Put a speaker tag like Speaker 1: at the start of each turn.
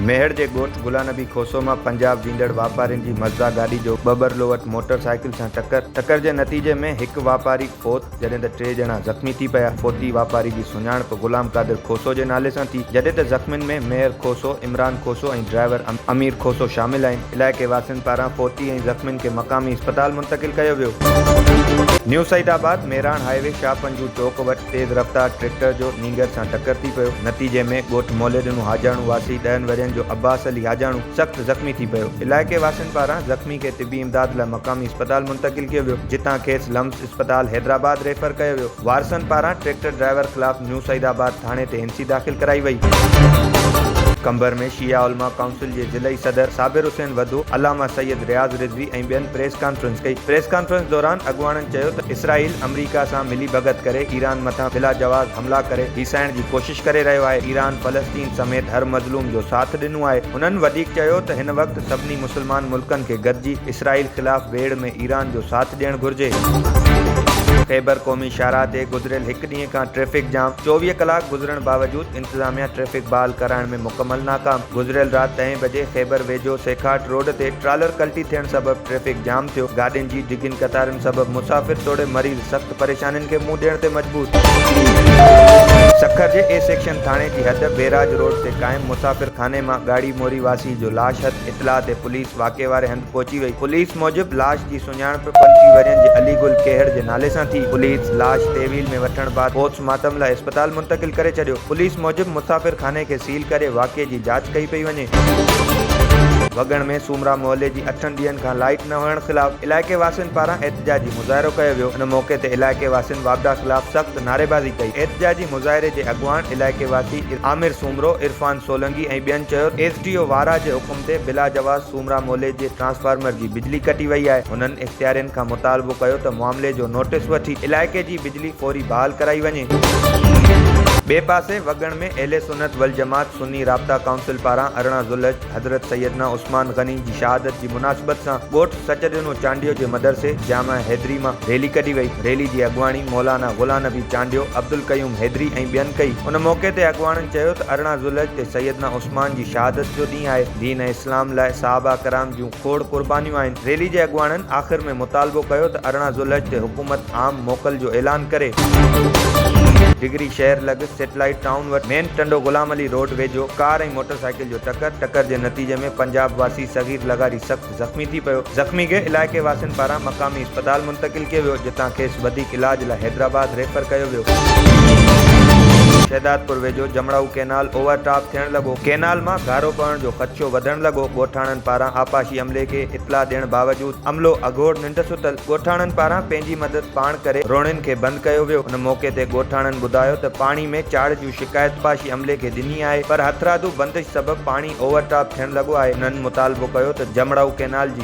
Speaker 1: ميهڙ جي ڳوٺ گلانبي کوسو مان پنجاب ويندڙ واپارين جي مزدا گاڏي جو ٻٻرلووٽ موٽر سائيڪل سان ٽڪر، ٽڪر جي نتيجي ۾ هڪ واپاري فوت، جڏهن ته ٽي ڄڻا زخمي ٿي پيا. فوتي واپاري جي سڃاڻپ غلام قادر کوسو جي نالي سان ٿي، جڏهن ته زخمين ۾ ميهر کوسو، عمران کوسو ۽ ڊرائيور امير کوسو شامل آهن. علائقي واسين پاران فوتي ۽ زخمين کي مقامي اسپتال منتقل ڪيو ويو. نيو سعيد آباد ميراڻ هاء وي شاهه پنجو چوڪ وٽ تيز رفتار ٽريڪٽر جو نينگر سان ٽڪر ٿي پيو، نتيجي ۾ ڳوٺ مولي ڏنو حاجاڻو واسي ڏهن ورهين جو عباس علي حاجاڻو سخت زخمي ٿي پيو، علائقي واسين پاران زخمي کي طبي امداد لاء مقامي اسپتال منتقل ڪيو ويو، جتان کيس لمس اسپتال حيدرآباد ريفر ڪيو ويو، وارثن پاران ٽريڪٽر ڊرائيور خلاف نيو سعيد آباد ٿاڻي تي هينسي داخل ڪرائي وئي. قمبر ۾ شيعه علماء ڪائونسل جي ضلعي صدر صابر حسين وڌو، علامه سيد رياض رضوي ۽ ٻين پريس ڪانفرنس ڪئي، پريس ڪانفرنس دوران اڳواڻن چيو ته اسرائيل آمريڪا سان ملي ڀڳت ڪري ايران مٿان بلاجواز حملا ڪري هيسائڻ جي ڪوشش ڪري رهيو آهي، ايران فلسطين سميت هر مظلوم جو ساٿ ڏنو آهي، هنن وڌيڪ چيو ته هن وقت سڀني مسلمان ملڪن کي گڏجي اسرائيل خلاف ويڙهه ۾ ايران جو ساٿ ڏيڻ گهرجي. خيبر قومي شاهراهه تي گذريل هڪ ڏينهن کان ٽريفڪ جام، چوويهه ڪلاڪ گذرڻ باوجود انتظاميا ٽريفڪ بحال ڪرائڻ ۾ مڪمل ناڪام، گذريل رات ڏهين بجي خيبر ويجهو سيکاٽ روڊ تي ٽرالر ڪلٽي ٿيڻ سبب ٽريفڪ جام ٿيو، گاڏين جي ڊگهين قطارن سبب مسافر توڙي مريض. سخت پريشانين کي منهن ڏيڻ تي مجبور. سکر جي اي سيڪشن ٿاڻي جي حد بيراج روڊ تي قائم مسافر خاني مان ڳاڙهي موري واسي جو لاش هٿ، اطلاع تي پوليس واقعي واري هنڌ پهچي وئي، پوليس موجب لاش جي سڃاڻپ پنجٽيهه ورهين جي علي گل کهڙ جي نالي سان ٿي، پوليس لاش تحويل ۾ وٺڻ بعد پوسٽ مارٽم لاء اسپتال منتقل ڪري ڇڏيو، پوليس موجب مسافر خاني کي سيل ڪري واقعي جي جاچ ڪئي پئي وڃي. وڳڻ ۾ سومرا محلي جي اٺن ڏينهن کان لائيٽ نه هئڻ خلاف علائقي واسين پاران احتجاجي. مظاهرو ڪيو ويو ان موقعي تي علائقي واسين واپڊا خلاف سخت نعريبازي ڪئي احتجاجي مظاهري جي اڳواڻ علائقي واسي عامر سومرو عرفان سولنگي ۽ ٻين چيو ته ايس ڊي او وارا جي حڪم تي بلا جواز سومرا مولي جي ٽرانسفارمر جي بجلي ڪٽي وئي آهي هنن اختيارين کان مطالبو ڪيو ته معاملي جو نوٽس وٺي علائقي جي بجلي فوري بحال ڪرائي وڃي. ٻئي پاسي وڳڻ ۾ اهل سنت والجماعت سني رابطا ڪائونسل پاران ارڙهن ذوالحج حضرت سيدنا عثمان غني جي شهادت جي مناسبت سان ڳوٺ سچڏنو چانڊيو جي مدرسي جامع حيدري مان ريلي ڪڍي وئي، ريلي جي اڳواڻي مولانا غلام نبي چانڊيو، عبدالقيوم حيدري ۽ ٻين ڪئي، ان موقعي تي اڳواڻن چيو ته ارڙهن ذوالحج تي سيدنا عثمان جي شهادت جو ڏينهن آهي، دين ۽ اسلام لاء صحابه ڪرام جون. کوڙ قربانيون آهن. ريلي جي اڳواڻن آخر ۾ مطالبو ڪيو ته ارڙهن ذوالحج تي حڪومت عام موڪل جو اعلان ڪري. ڊگري شهر لڳ سيٽلائيٽ ٽائون وٽ مين ٽنڊو غلام علي روڊ ويجهو ڪار ۽ موٽر سائيڪل جو ٽڪر، ٽڪر جي نتيجي ۾ پنجاب واسي صغير لغاري سخت زخمي ٿي پيو، زخمي کي علائقي واسين پاران مقامي. اسپتال منتقل ڪيو ويو جتان کيس وڌيڪ علاج لاء حيدرآباد ريفر ڪيو ويو. شهدادپور ويجهو جمڙائو ڪئنال اوور ٽاپ ٿيڻ لڳو، ڪئنال مان گهارو پوڻ جو خدشو وڌڻ لڳو، ڳوٺاڻن پاران آبپاشي عملي کي اطلاع ڏيڻ باوجود عملو اگهور ننڊ ستل، ڳوٺاڻن پاران پنهنجي مدد پاڻ ڪري روڻين کي بند ڪيو ويو، ان موقعي تي ڳوٺاڻن ٻڌايو ته پاڻي ۾ چاڙهه جون شڪايت آبپاشي عملي کي ڏني آهي پر هٿرادو بندش سبب پاڻي اوور ٽاپ ٿيڻ لڳو آهي، انهن مطالبو ڪيو ته جمڙائو ڪئنال جي.